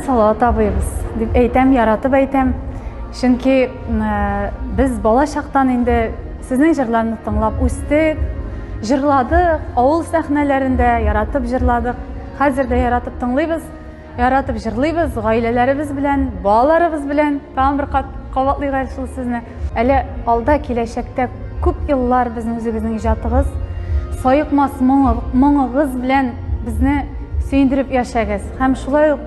Салават абыйбыз дип әйтәм, яратып әйтәм. Чөнки без бала чактан инде сезнең җырларны тыңлап үстек, җырладык, авыл сәхнәләрендә яратып җырладык. Хәзер дә яратып тыңлыйбыз, яратып җырлыйбыз, гаиләләребез белән, балаларыбыз белән. Тагын бер кат кабатлыйк әле шул сезне. Әле алда киләчәктә күп еллар безнең үзегезнең иҗатыгыз, саекмас моңыгыз белән безне сөендереп яшәгез. Һәм шулай ук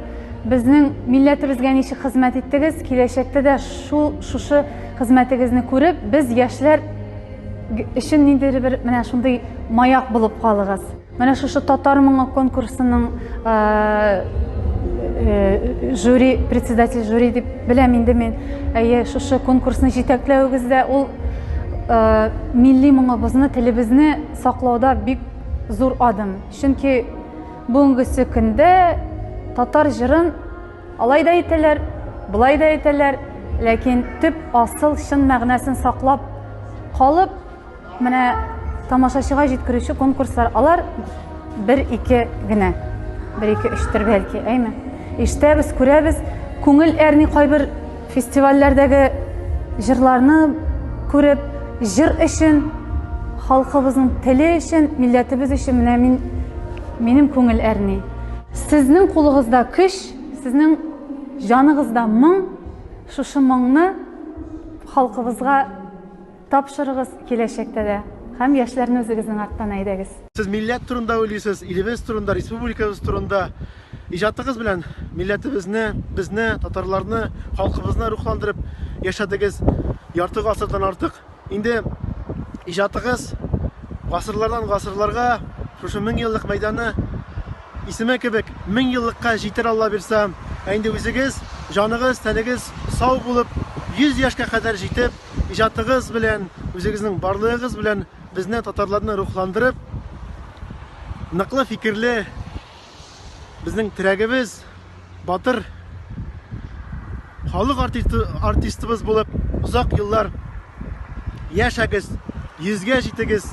безнең милләтебезгә ничек хезмәт иттегез, киләчәктә дә шул шушы хезмәтегезне күреп, без яшьләр өчен ниндидер бер менә шундый маяк булып калыгыз. Менә шушы татар моңы конкурсының жюри председатель жюри дип беләм инде мин. Әйе, шушы конкурсны җитәкләвегездә ул милли моңыбызны, телебезне саклауда бик зур адым. Чөнки бүгенгесе көндә татар җырын алай да әйтәләр, болай да әйтәләр, ләкин төп асыл чын мәгънәсен саклап калып, Менә тамашачыга җиткерүче конкурслар, алар бер-ике генә. Бер-ике өчтер бәлки, әйме? Ишетәбез, күрәбез, күңел әрни кайбер фестивальләрдәге җырларны күреп, җыр өчен, халкыбызның теле өчен, милләтебез өчен менә мин минем күңел әрни. Сезнең кулыгызда көч, сезнең җаныгызда моң, шушы моңны халкыбызга Тапшырыгыз киләчәктә дә һәм яшьләрне үзегезнең арттан әйдәгез. Сез милләт турында уйлыйсыз, илебез турында, республикабыз турында. Иҗатыгыз белән милләтебезне, безне, татарларны, халкыбызны рухландырып яшәдегез ярты гасырдан артык. Инде иҗатыгыз гасырлардан гасырларга, шушы мең еллык мәйданы исеме кебек, мең еллыкка җитәр Алла бирса. Ә инде үзегез, җаныгыз, тәнегез сау булып, йөз яшькә кадәр җитеп, иҗатыгыз белән, үзегезнең барлыгыгыз белән безне татарларны рухландырып, ныклы фикерле безнең терәгебез, батыр халык артисты, артистыбыз булып озак еллар яшәгез, йөзгә җитегез,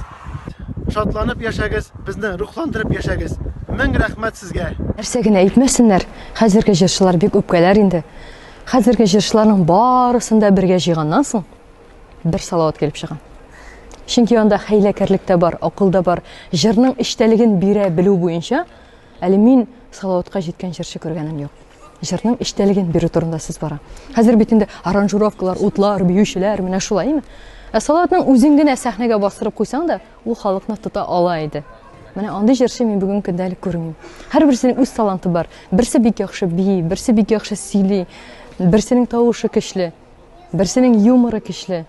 шатланып яшәгез, безне рухландырып яшәгез. Мең рәхмәт сезгә! Нәрсә генә әйтмәсеннәр, хәзерге җырчылар бик үпкәләр инде. Хәзерге җырчыларның барысын да бергә җыйганнан соң бер салават килеп чыга. Чөнки анда хәйләкәрлек тә бар, акыл да бар. Җырның эчтәлеген бирә белү буенча әле мин салаватка җиткән җырчы күргәнем юк. Җырның эчтәлеген бирү турында сүз бара. Хәзер бит инде аранжировкалар, утлар, биючеләр менә шулай, әйме? Ә салаватның үзен генә сәхнәгә бастырып куйсаң да, Ул халыкны тота ала иде. Менә андый җырчы мин бүген көндә әле күрмим. Һәрберсенең үз таланты бар. Берсе бик яхшы бии, берсе бик яхшы сөйли, берсенең тавышы көчле, берсенең юморы көчле.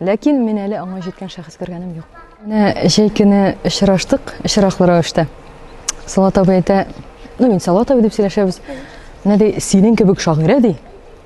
Ләкин мин әле аңа җиткән шәхес күргәнем юк. Менә җәй көне очраштык, очраклы рәвештә. Салат абый әйтә, ну мин Салат абый дип сөйләшәбез. Менә ди, синең кебек шагыйрә ди.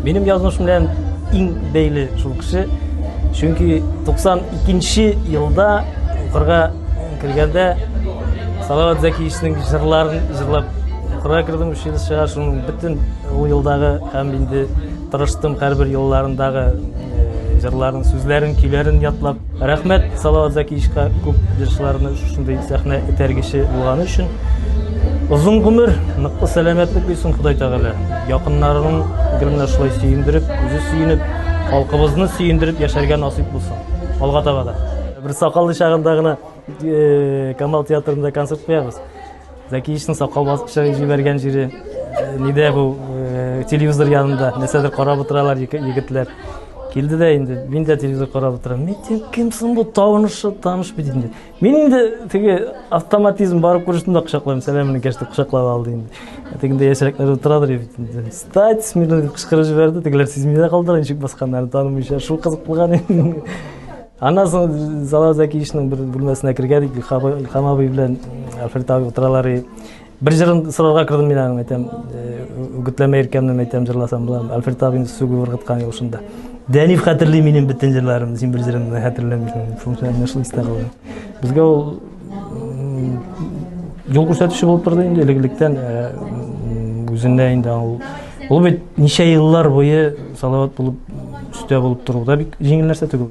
Минем язмыш белән иң бәйле шул кеше. Чөнки 92 елда укырга кергәндә Салават Зәкиевичнең җырларын җырлап укырга кердем училищега. Шуның бөтен ул елдагы һәм инде тырыштым һәрбер елларындагы э, җырларын, сүзләрен, көйләрен ятлап Рәхмәт Салават Закиевичка күп җырчыларны шушындый сәхнә этәргече булганы өчен. Озын гомер, ныклы сәламәтлек бирсен Ходай Тәгалә. Якыннарының гел менә шулай сөендереп, үзе сөенеп, халкыбызны сөендереп яшәргә насыйп булсын. Алга таба да. Бер сакаллы чагында гына э, Камал театрында концерт куябыз. Зәкиевичның сакал басып җибәргән җире нидә бу телевизор янында нәрсәдер карап утыралар егетләр. Килде дә инде, мин дә телевизор карап утырам. Мин дим, кем соң бу танышы, таныш бит инде. Мин инде теге автоматизм барып күрештем дә кочаклыйм, сәламен кәште кочаклап алды инде. Ә тегендә яшьрәкләр утырадыр бит инде. Стать, мин кычкырып җибәрде, тегеләр сизми дә калдылар, ничек басканнарын танымыйча, шул кызыклыган инде. Аннан соң Зала Зәкиевичның бер бүлмәсенә кергәдик, Илхам абый белән Альфред абый утыралар. Бер җырын сорарга кердем мин аның, әйтәм, үгетләмә «Э, иркәмне әйтәм җырласам була. Альфред абыйны сүгү ургыткан юл шунда. Дәниф хәтерли минем бөтен җырларымны, син бер җырымны хәтерләмисең. Шунысы менә шул истә калды. Безгә ул юл күрсәтүче булып торды инде элек-электән э, үзенә инде ул ул бит ничә еллар буе салават булып үстә булып тору да бик җиңел нәрсә түгел.